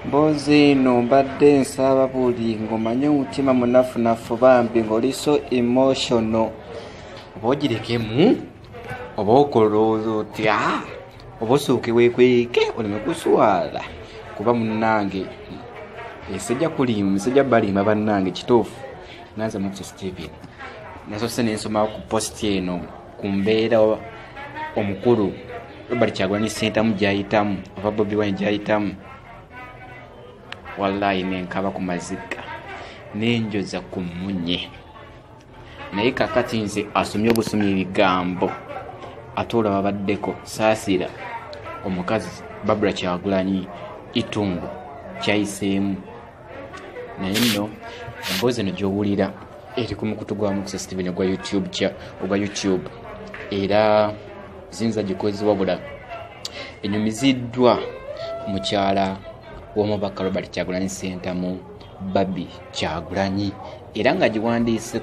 mbozi eno mbadde nsaba buli ng'omanye omutima munafunafu bambi ng'oli so emotional oba ogirekemu oba okolooza otya oba osooke wekweke oleme kuswala kuba munnange esajja kulimu esajja balimba bannange kituufu nanze mukisa steven nasose nensoma ku posti eno ku mbeera omukulu robert kyagulani sentamu gyayitamu ova bobi wine gyayitamu wallahi nenkaba ku mazika nenjoza ku munye naye kakati nze asomye obusomye ebigambo ate olwa babaddeko saasira omukazi babula kyagulanyi itungo kyayiseemu naye nno emboozi eno gyowulira eri ku mukutu gwa mukisa steven ogwa youtube kya ogwa youtube era ziyinza gikozi wabula enyumiziddwa mukyala w'omubaka robert kyagulanyi sentamu babi kyagulanyi era nga giwandiise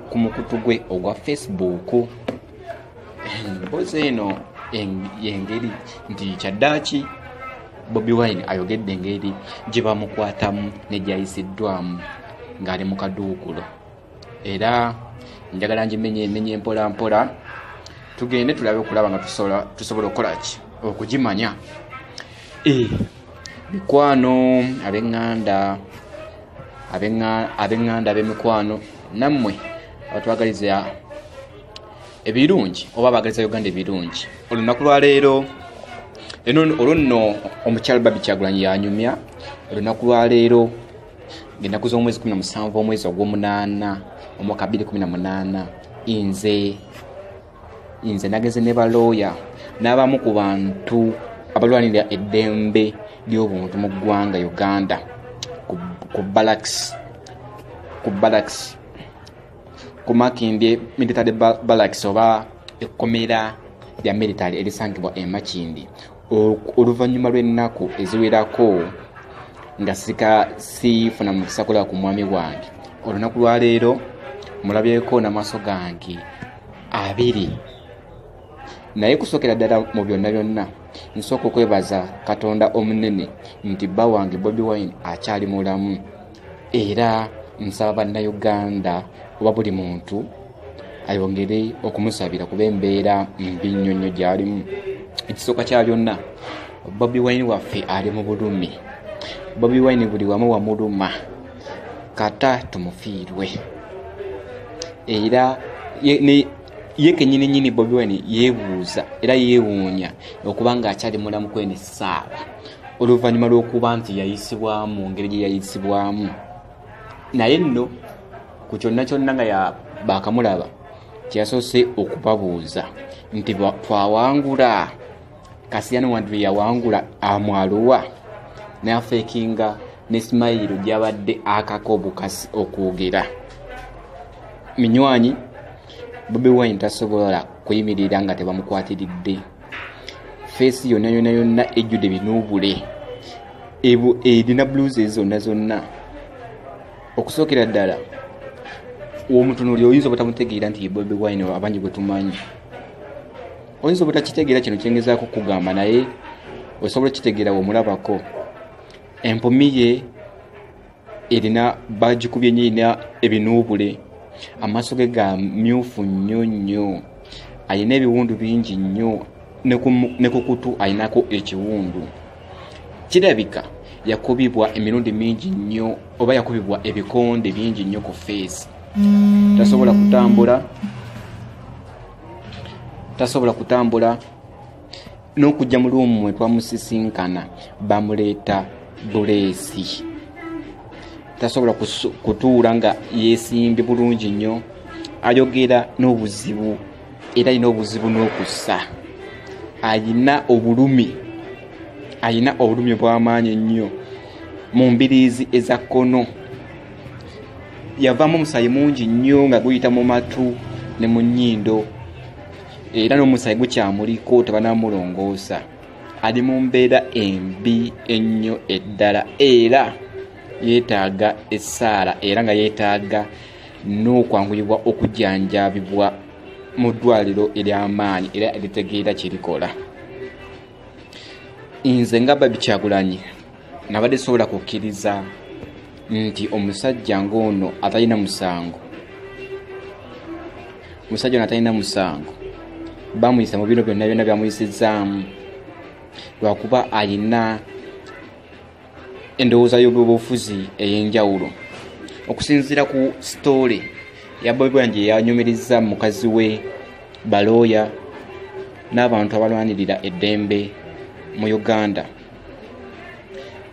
ku mukutu gwe ogwa facebook emboozi eno yengeri nti kyaddaaki bobi wine ayogedde engeri gye bamukwatamu negyayisiddwamu ng'ali mu kaduukulo era njagala ngimenye emenye mpola mpola tugende tulabe okulaba nga tusobola okukola ki okugimanya eh, mikwano abeŋŋanda abeŋŋanda ab'emikwano nammwe abatwagaliza ebirungi oba abagaliza uganda ebirungi olunaku lwaleero eno olwo nno omukyalo babi kyagulanyi yanyumya olunaku lwaleero ngenaku z'omwezi 17 omwezi ogwomunaana omwaka 218 nze nze nagenze ne balooya n'abamu ku bantu abalwanira eddembe ly'obuntu mu ggwanga uganda ku balaks ku balaks ku makindye military balax oba ekkomera lya military erisangibwa e makindi oluvannyuma lw'ennaku eziwerako nga sika siifuna mu kisakola ku mwami wange olunaku lwaleero mulabyeko n'amaaso gange abiri naye kusokera ddala mu byonna byonna nsooka okwebaza katonda omunene nti bba wange bobi wine akyali mulamu era nsaba bannayuganda oba buli muntu ayongere okumusabira kuba embeera mbi nnyo nnyo gyalimu ekisooka kya byonna bobi wine waffe ali mu bulumi bobi wine buli wamu wamuluma kata tumufiirwe era ye kenyini nyini bobi wine yebuuza era yewuunya okuba nga akyali mulamu kwenis saawa oluvannyuma lw'okuba nti yayisibwamu mu ngeri gye yayisibwamu naye nno ku kyonna kyonna nga baakamulaba kyeyasoose okubabuuza nti twawangula kasiyano wantu lwe yawangula amwaluwa n'afeekinga ne simayiro gyabadde akako obukasi okwogera minywanyi bobi wine tasobola kuyimirira nga tebamukwatiridde feesi yonna yonna yonna ejjudde binuubule erina e, blues ezi zonna zonna okusookera ddala omutunuli oyinza obutamutegeera nti yebobi wine abangi gwetumanyi oyinza obutakitegeera kino kyengezaako kugamba naye osobola okitegeera womulabako empumiye erina bagikubye nyo erina ebinuubule amaaso ge ga myufu nnyo nnyo alina ebiwundu bingi nnyo ne ku kutu alinako ekiwundu kirabika yakubibwa emirundi mingi nnyo oba yakubibwa ebikonde bingi nnyo ku feesi tasobola kutambula tasobola kutambula n'okujja mu luumu mwe twamusisinkana bamuleeta buleesi tasobola kutuula nga yeesimbye bulungi nnyo ayogera n'obuzibu era alina obuzibu n'okussa alina obulumi alina obulumi obw'amaanyi ennyo mu mbiriizi eza kkono yavaamu omusaayi mungi nnyo nga guyita mu matu ne mu nnyindo era n'omusayi gukyamuliko tebanamulongoosa ali mu mbeera embi ennyo eddala era yeetaaga essaala era nga yeetaaga n'okwanguyibwa okujanjabibwa mu ddwaliro ery'amaanyi era eritegeera kye likola nze nga babikyagulanyi nabadde sobola kukkiriza nti omusajja ng'ono atalina musango omusajja ono atalina musango bamuyisa mu bino byonna byonna byamuyisizaamu lwakuba alina endowooza y'obyobufuzi ey'enjawulo okusinziira ku sitoole ya bobibwan gye yanyumiriza mukazi we balooya n'abantu abalwanirira eddembe mu uganda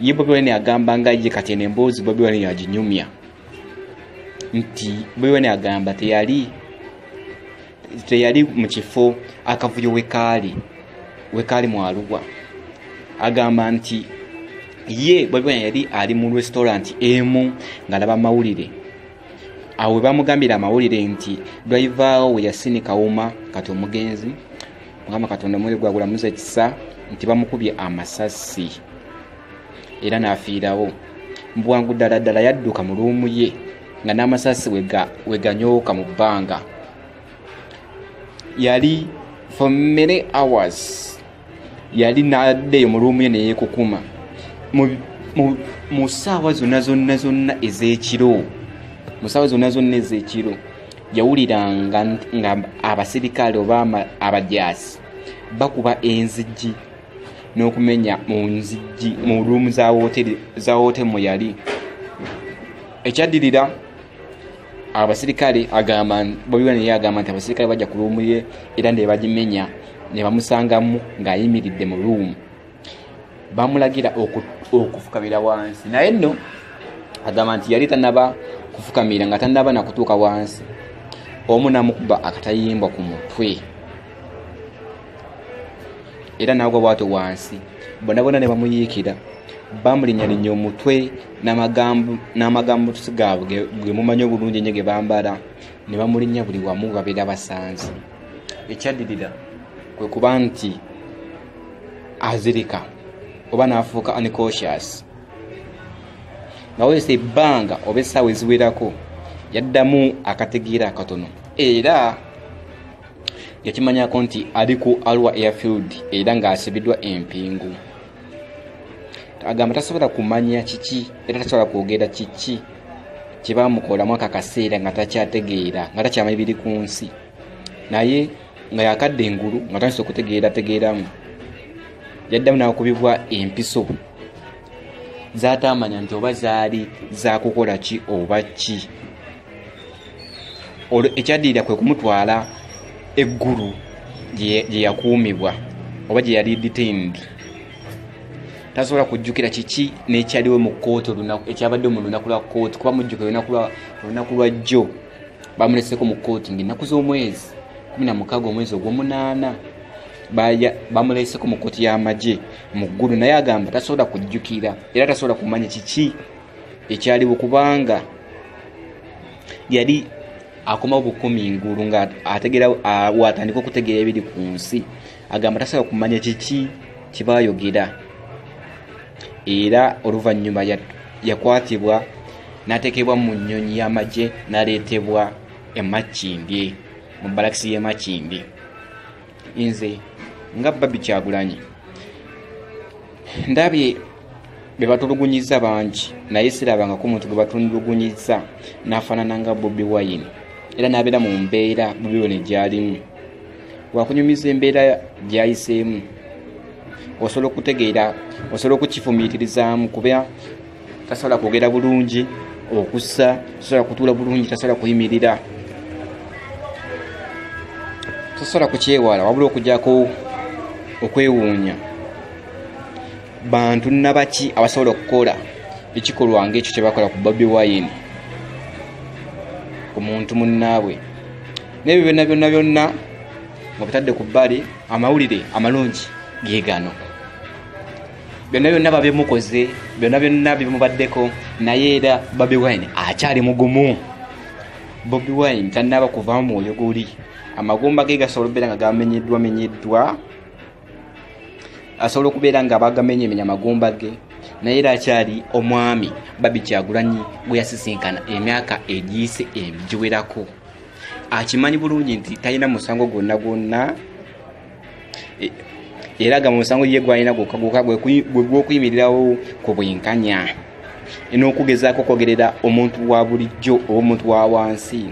ye bobi wine agamba nga ye kati eno emboozi bobi wine yaginyumya nti bobi wine agamba teyali teyali mu kifo akavuyo wekaali wekaali mu aluwa agamba nti ye bobi wine yali ali mu restaurant emu ng'alaba amawulire awo webamugambira amawulire nti driver we yasinika wuma kati omugenzi mukama katonda omwoyo gwagulamuza ekisa nti bamukubye amasasi era n'afiirawo mu bwangu ddala ddala yadduka mu luumu ye nga n'amasasi we ganyooka mu bbanga yali for many hours yali n'addeyo mu luumu ye neyekukuma mu ssaawa zonna zonna zonna ez'ekiro mu ssaawa zonna zonna ez'ekiro yawuliranga nga abasirikale oba abajaasi bakuba enzigi n'okumenya mu nzigi mu ruumu za wote mwe yali ekyaddirira abasirikale agamba bobiwa naye agamba nti abasirikale bajja ku ruumu ye era nebagimenya nebamusangamu ng'ayimiridde mu ruumu bamulagira okufukamira wansi naye nno agamba nti yali tanaba kufukamira nga tanaba nakutuuka wansi omu namukuba akatayimbwa ku mutwe era nagwa bwato wansi bonabona ne bamuyiikira bamulinyalinya omutwe n'amagambo tusi gaabwe ge mumanyi obulungi enyo ge bambala ne bamulinnya buli wamu babeera basanze ekyaddirira kwe kuba nti azirika oba n'afuuka unconscious nga wayisa ebbanga oba essaawa eziwerako yaddamu akategeera akatono era yakimanyako nti ali ku alwa airfield era ng'asibiddwa empingu agamba tasobola kumanya kiki era tasobola kwogera kiki kye bamukolamu ako akaseera nga takyategeera nga takyamanyi biri ku nsi naye nga yakadde engulu nga tandise okutegeerategeeramu yaddamu nakubibwa empiso zatamanya nti oba zaali zakukola ki oba ki olwo ekyaddirira kwe kumutwala eggulu gye yakuumibwa oba gye yali detained tasobola kujjukira kiki nekyaliwo mu kooti olunaku ekyabadde mu lunaku lwa kooti kuba mujjukira olunaku lwa jjo bamuleseko mu kooti ngaennaku z'omwezi kumi na mukaaga omwezi ogwomunaana bamuleseko mu kooti y'amagye mu ggulu naye agamba tasobola kujjukira era tasobola kumanya kiki ekyaliwo kubanga yali akomawo bukumi ngulu nga ategera watandika okutegeera ebiri ku nsi agamba tasobola kumanya kiki kyebayogera era oluvannyuma yakwatibwa n'ateekebwa mu nnyonyi y'amagye n'aleetebwa emakindye mu balakisi y'emakindye nze nga babi kyagulanyi ndabye bebatulugunyiza bangi naye sirabangako omuntu gwe batulugunyiza n'afaanana nga bobi wine era n'abeera mu mbeera bobi wine gy'alimu wakunyumiza embeera gyayiseemu osobola okutegeera osobola okukifumiitirizaamu kuba tasobola kwogera bulungi okussa tasobola kutuula bulungi tasobola kuyimirira tasobola kukyewala wabula okujako okwewuunya bantu nabaki abasobola okukola ekikolwa ngaekyo kyebakola ku bobi wine ku muntu munnaabwe nebyo byonna byonna byonna nga bitadde ku bbali amawulire amalungi gegano byonna byonna babimukoze byonna byonna bimubaddeko naye era bobi wine akyali mugumu bobi wine tannaba kuvamu mwoyo guli amagumba ge gasobola okubeera nga gamenyeddwa menyeddwa asobola okubeera nga bagamenye emenya amagumba ge naye era akyali omwami babi kyagulanyi gwe yasisinkana emyaka egiyise egiwerako akimanyi bulungi nti talina musango gwonna gwonna e, era gamba omusango ye gwalina gwokka gwokka gwegwokuyimirirawo ku bwenkanya n'okugezaako okwogerera omuntu wa bulijjo oba omuntu wa wansi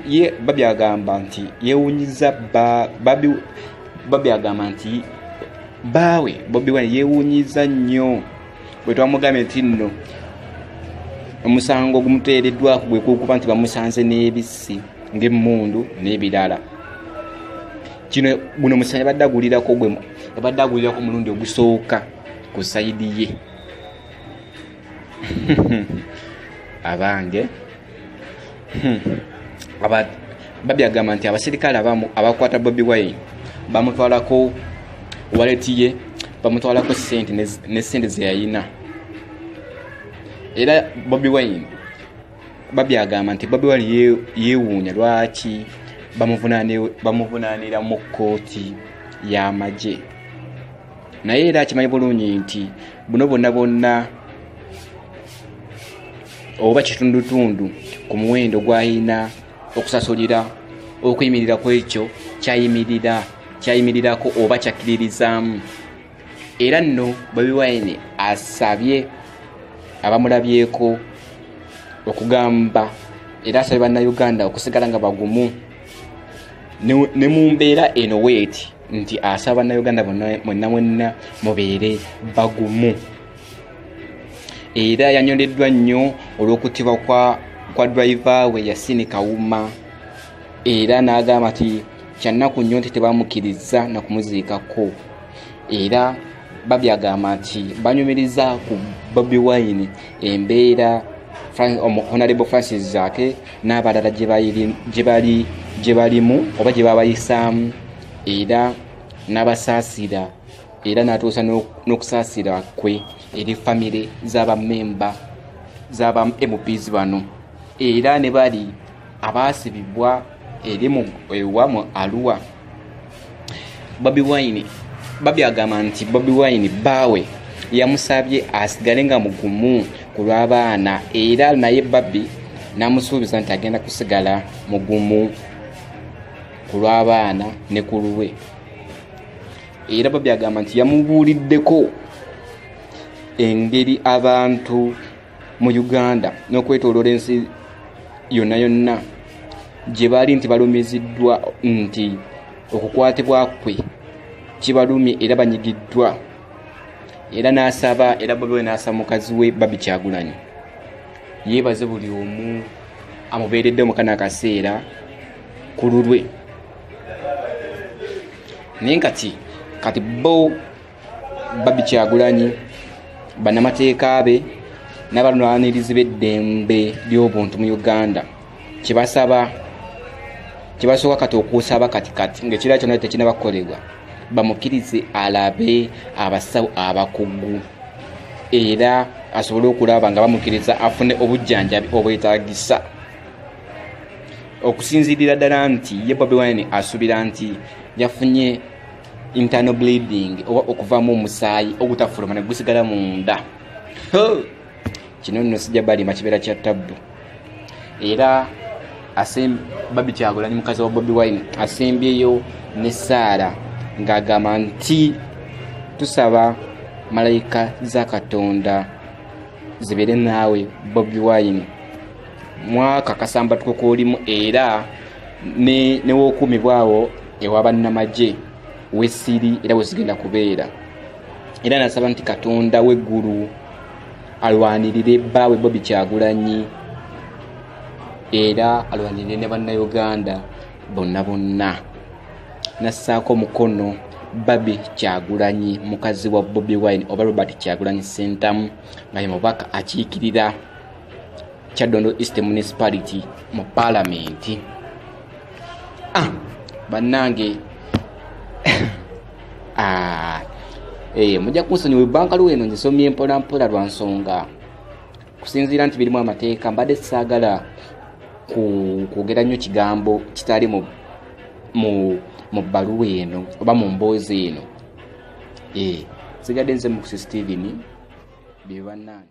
ye babi agamba nti yewunyiza babi agamba nti baawe bobi wine yewunyiza nnyo bwe twamugambye nti nno omusango ogumuteereddwako gwe kukuba nti bamusanze n'ebissi ng'emmundu n'ebirala kino guno omusango yabadde agulirako gwe yabadde agulirako omulundi ogusooka ku sayidi ye abange hmm. babi agamba nti abaserikale abamu abakwata bobi wine bamutwalako waleti ye bamutwalako sente ne sente zeyayina era bobi wine babi agamba nti bobi wine yewuunya lwaki bamuvunaanira mu kkooti y'amagye naye era akimanyi bulungi nti buno bwonna bwonna oba kitundutundu ku muwendo gw'alina okusasulira okuyimirira ku ekyo kyayimirira kyayimirirako oba kyakkiririzaamu era nno bobi wine asabye abamulabyeko okugamba era asabye bannayuganda okusigala nga bagumu ne mu mbeera eno weeti nti asaba bannayuganda bonna mwenna mwenna mubeere bagumu era yanyoleddwa nnyo olw'okutibwa kwa, kwa driva we yasini kawuma era n'agamba nti kyannaku nnyo nti tebamukirizza nakumuziikako era babyagamba nti banyumiriza ku bobi wine embeera honarable francis zaake n'abalala gye balimu oba gye babayisaamu era n'abasaasira era n'atuusa n'okusaasira kwe eri famire z'abamemba z'aba mps bano era ne bali abaasibibwa eri ewa mu aluwa bobi wine babi agamba nti bobi wine baawe yamusabye asigale nga mugumu ku lw'abaana era naye babi n'amusuubiza nti agenda kusigala mugumu ku lw'abaana ne ku lulwe era babi agamba nti yamubuuliddeko engeri abantu mu uganda n'okwetoloola ensi yonna yonna gye baali nti balumiziddwa nti okukwatibwa kwe kibalumye era banyigiddwa era n'asaba era bobi we n'asaba mukazi we babi kyagulanyi yeebaze buli omu amubeeredde mukana akaseera ku lulwe naye kati kati bo babikyagulanyi banamateeka be nabalwanirizi beddembe lyobuntu mu uganda kyebasaba kyebasooka kati okusaba kati kati ngaekira kyona tekinaba kukolebwa bamukkirize alabe abasawo abakugu era asobole okulaba nga bamukkiriza afune obujjanjabi obwetagisa okusinzirira ddala nti ye bobi wine asuubira nti yafunye internal bleeding oba okuvamu omusaayi ogutafuluma ne gusigala munda kino nno sijja balima kibeera kya tabbu era babi kyagulanyi mukazi wa bobi wine asembyeyo ne saara ng'agamba nti tusaba malayika za katonda zibeere naawe bobi wine mwaka kasambatuko kolimu era newokuumibwawo ewa bannamagye wesiri era wezigenda kubeera era nasaba nti katonda weggulu alwanirire bbaawe bobi kyagulanyi era alwanirire ne bannayuganda bonna bonna nassaako omukono babi kyagulanyi mukazi wa bobi wine oba robert kyagulanyi sentamu nga ye mubaka akiikirira kyaddondo east municipality mu palamenti ah, bannange ah, eh, mujja kunsonyi webanka luwa eno ngisomye mpolampola lwa nsonga kusinziira nti birimu amateeka mbadde saagala kwogera nnyo kigambo kitali mu mu bbaluwa eno oba mu mboozi eno eh, sigadde nze mu kusisteveni bye bannange